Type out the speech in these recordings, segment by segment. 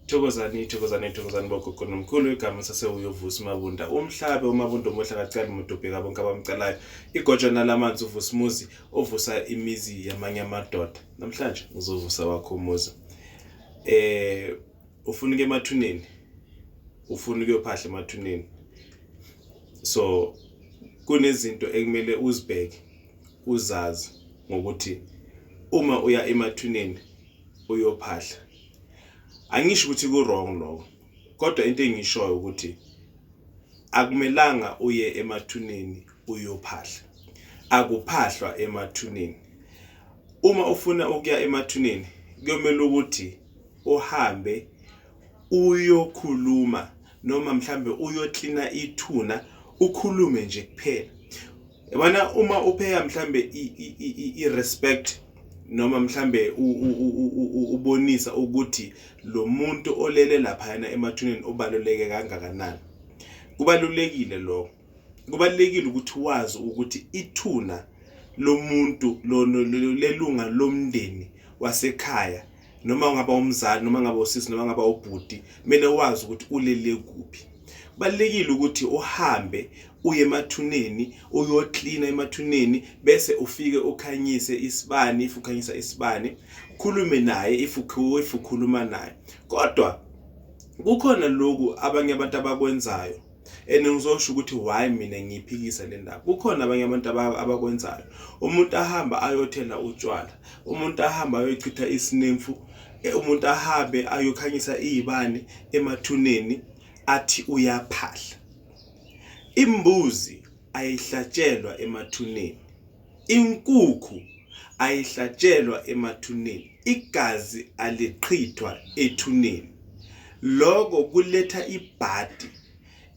Thokozani thokozani thokozani bogogo nomkhulu igama sasewuyovusa umabunda umhlabe umabunda omuhle akacali muntu ubheka bonke abamcalayo igojana lamanzi uvusa umuzi ovusa imizi yamanye amadoda namhlanje uzovusa wakho umuzi eh ufuna uke emathuneni ufuna ukuyophahla emathuneni so kunezinto ekumele uzibheke uzazi ngokuthi uma uya emathuneni uyophahla angisho ukuthi ku-wrong lokho kodwa into engishoyo ukuthi akumelanga uye emathuneni uyophahla akuphahlwa emathuneni uma ufuna ukuya emathuneni kuyomela ukuthi uhambe uyokhuluma noma mhlambe uyoklina ithuna ukhulume nje kuphela yabona uma upheya mhlambe i-respect noma mhlambe ubonisa ukuthi lo muntu olele laphayana emathuneni ubaluleke kangakanani kubalulekile lokho kubalulekile ukuthi wazi ukuthi ithuna lomuntu lelunga lomndeni wasekhaya noma ungaba umzali noma ngaba usisi noma ngaba ubhuti kumele wazi ukuthi ulele kuphi kubalekile ukuthi uhambe uye emathuneni uyoklina emathuneni bese ufike ukhanyise isibani if ukhanyisa isibani ukhulume naye if ukhuluma naye kodwa kukhona lokhu abanye abantu abakwenzayo and ngizosho ukuthi why mina ngiyiphikisa le ndaba kukhona abanye abantu abakwenzayo umuntu ahamba ayothela utshwala umuntu ahamba ayochitha isinemfu e, umuntu ahambe ayokhanyisa iyibani emathuneni athi uyaphahla imbuzi ayihlatshelwa emathuneni Inkukhu ayihlatshelwa emathuneni, igazi aliqhithwa ethuneni. Loko kuletha ibhadi.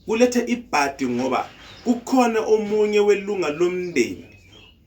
Kuletha ibhadi ngoba kukhona omunye welunga lomndeni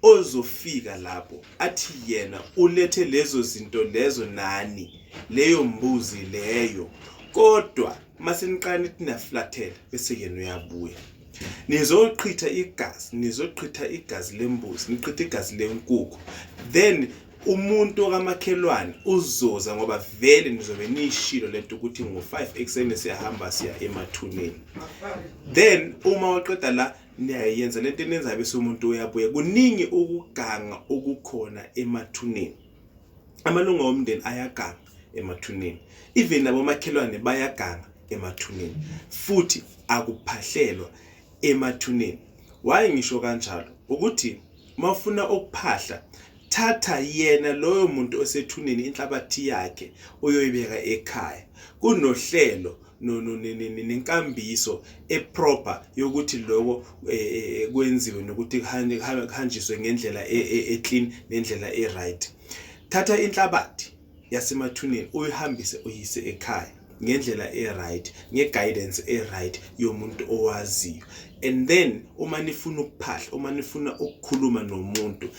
ozofika lapho athi yena ulethe lezo zinto lezo nani, leyo mbuzi leyo. Kodwa uma seniqala nithi niyaflathela bese yena uyabuya nizoqhitha igazi nizoqhitha igazi lembuzi niqhitha igazi lenkukhu then umuntu okamakhelwane uzoza ngoba vele nizobe niyishilo lento ukuthi ngo-5 ekuseni siyahamba siya emathuneni then uma waqeda la niyayenza lento enenzayo bese umuntu uyabuya kuningi ukuganga okukhona emathuneni amalunga omndeni ayaganga emathuneni even nabomakhelwane bayaganga emathuneni futhi akuphahlelwa emathuneni waye ngisho kanjalo ukuthi mawufuna ukuphahla thatha yena loyo muntu osethuneni inhlabathi yakhe uyoyibeka ekhaya kunohlelo nenkambiso eproper yokuthi lokho eh, eh, eh, kwenziwe nokuthi kuhanjiswe ngendlela e, e, eclean nendlela eright thatha inhlabathi yasemathuneni uyihambise uyise ekhaya ngendlela eright ngeguidance eright yomuntu owaziyo and then uma nifuna ukuphahla uma nifuna ukukhuluma nomuntu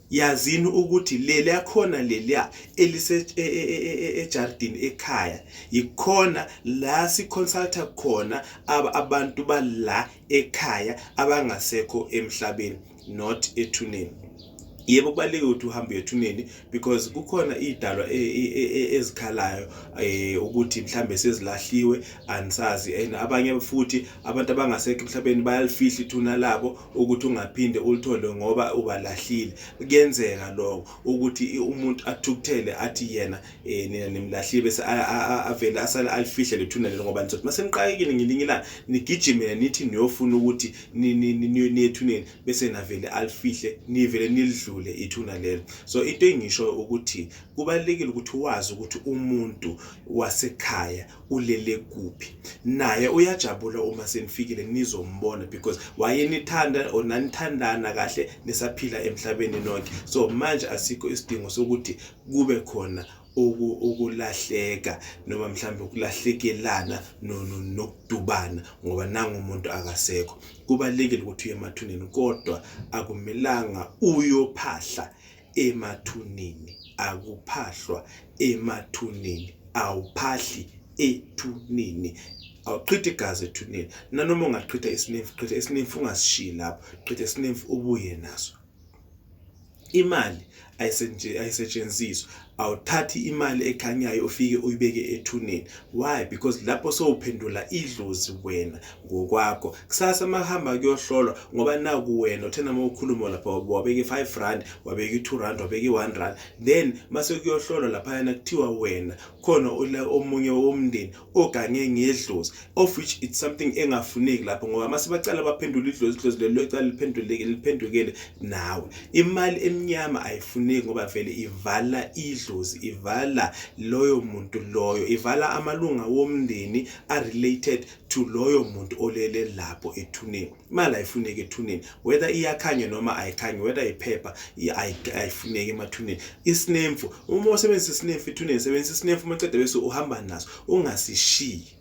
yazini ukuthi leli yakhona leliya elisejardini e, e, e, ekhaya yikhona la siconsulta khona abantu bala ekhaya abangasekho emhlabeni not ethuneni yebo kubalulekile ukuthi uhambe uyethuneni because kukhona idalwa ezikhalayo eh ukuthi mhlambe sezilahliwe ansazi and abanye futhi abantu abangasekho emhlabeni bayalifihla ithuna labo ukuthi ungaphinde ulithole ngoba ubalahlile kuyenzeka lokho ukuthi umuntu athukuthele athi yena eh nina nimlahlile bese avele asale alifihle lethuna lelo ngoba nizothi maseniqayekile ngelinye ilanga nigijimele nithi niyofuna ukuthi niyethuneni bese navele alifihle nivele nilidlule ithuna lelo so into engisho ukuthi kubalekile ukuthi wazi ukuthi umuntu wasekhaya ulele kuphi naye uyajabula uma senifikile nizombona because wayenithanda or nanithandana kahle nisaphila emhlabeni nonke so manje asikho isidingo sokuthi kube khona ukulahleka noma mhlawumbe ukulahlekelana nokudubana ngoba nangu umuntu akasekho kubalekile ukuthi uye emathuneni kodwa akumelanga uyophahla emathuneni akuphahlwa emathuneni awuphahli ethuneni awuqhithi igazi ethuneni nanoma ungaqhitha isinemfu qhitha isinemfu ungasishiyi lapho qhitha isinemfu ubuye naso imali ayisetshenziswa awuthathi imali ekhanyayo ufike uyibeke ethuneni why because lapho sowuphendula idlozi wena ngokwakho kusasa mahamba kuyohlolwa ngoba naku wena uthena uma ukhuluma lapha wabeka i-five rand wabeka i-two rand wabeka i-one rand then mase kuyohlolwa laphayana kuthiwa wena khona omunye womndeni ogange ngedlozi of which it's something engafuneki lapho ngoba mase bacala baphendula idlozi idlozi lelo licala liphenduleke liphendukele nawe imali emnyama ayifuneki ngoba vele ivala idlozi ivala loyo muntu loyo ivala amalunga womndeni a-related to loyo muntu olele lapho ethuneni imali ayifuneki ethuneni whether iyakhanya noma ayikhanyi whether iphepha ayifuneki emathuneni isinemfu uma usebenzisa isinemfu ethuneni sebenzisa isinemfu uma cede bese uhamba naso ungasishiyi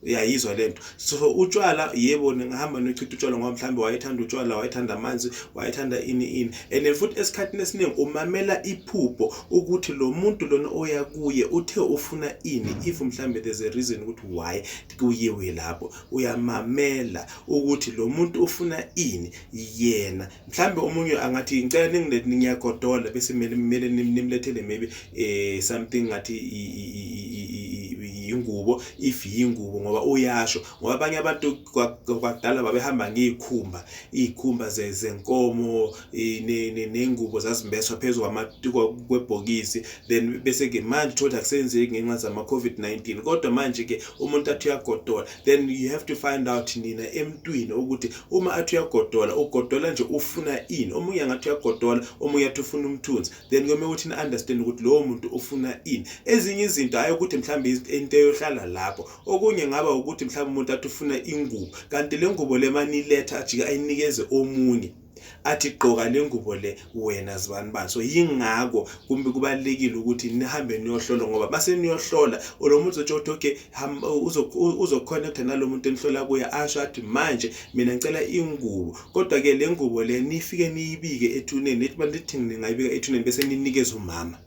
uyayizwa le nto so utshwala yebo ningahamba nochitha utshwala ngoba mhlawumbe wayethanda utshwala wayethanda amanzi wayethanda ini ini and futhi esikhathini esiningi umamela iphupho ukuthi lo muntu lona oya kuye uthe ufuna ini if mhlambe there's a reason ukuthi why kuyiwe lapho uyamamela ukuthi lo muntu ufuna ini yena mhlambe omunye angathi ngicela ningilethe ngiyagodola bese kumele kumele nimlethele maybe eh something ngathi yingubo if yingubo ngoba uyasho ngoba abanye abantu kwadala babehamba ngey'khumba iy'khumba zenkomo ney'ngubo zazimbeswa phezu kwebhokisi then bese-ke manje uthole akusenzeki ngenxa zama-covid-19 kodwa manje-ke umuntu athi uyagodola then you have to find out nina emntwini ukuthi uma athi uyagodola ugodola nje ufuna ini omunye angathi uyagodola omunye athi ufuna umthunzi then kumele ukuthi ni-understand ukuthi lowo muntu ufuna ini ezinye izinto hhayi ukuthi mhlawumbe into eyohlala lapho okunye ngaba ukuthi mhlawumbe umuntu athi ufuna ingubo kanti le ngubo le maniletha ajike ayinikeze omunye athi gqoka le ngubo le wena zibani bani so yingako kumbe kubalekile ukuthi nihambe niyohlola ngoba base niyohlola lo muntu uzotsho ukuthi okay uzokhonekta nalo muntu enihlola kuye asho athi manje mina ngicela ingubo kodwa-ke le ngubo le nifike niyibike ethuneni ethi bantu ethi ningayibika ethuneni bese ninikeza umama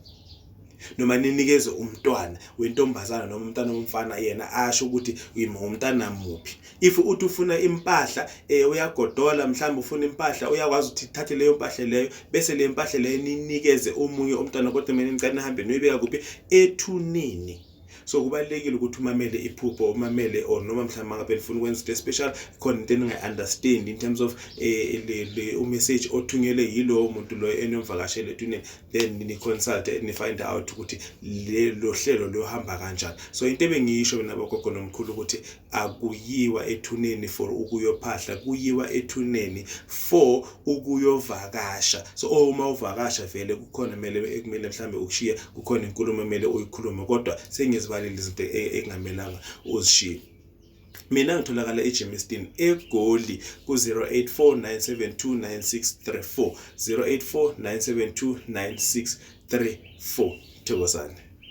noma ninikeze umntwana wentombazana noma umntana womfana yena asho ukuthi umntana muphi if uthi ufuna impahla eh uyagodola mhlawumbe ufuna impahla uyakwazi ukuthi thathe leyo mpahla leyo bese le mpahla leyo ninikeze omunye umntwana kodwa mina ngicela nihambe noyibeka kuphi ethuneni so kubalekile ukuthi umamele iphupho umamele or noma mhlawumbe ngabe nifuna ukwenza into special khona into eningayi-understand in terms of eh, umessage othunyelwe yilowo muntu loyo enomvakashele etuneni then ni-consulte ni-find out ukuthi lelo hlelo luyohamba kanjani so into ebengiyisho mina bogogo nomkhulu ukuthi akuyiwa ethuneni for ukuyophahla kuyiwa ethuneni for ukuyovakasha so oh, uma uvakasha vele kukhona kumele ekumele mhlambe ukushiya kukhona inkulumo emele uyikhulume kodwa sengizibalile izinto e, ekungamelanga uzishiye mina ngitholakala eGemiston eGoli ku-0849729634 0849729634 thokozane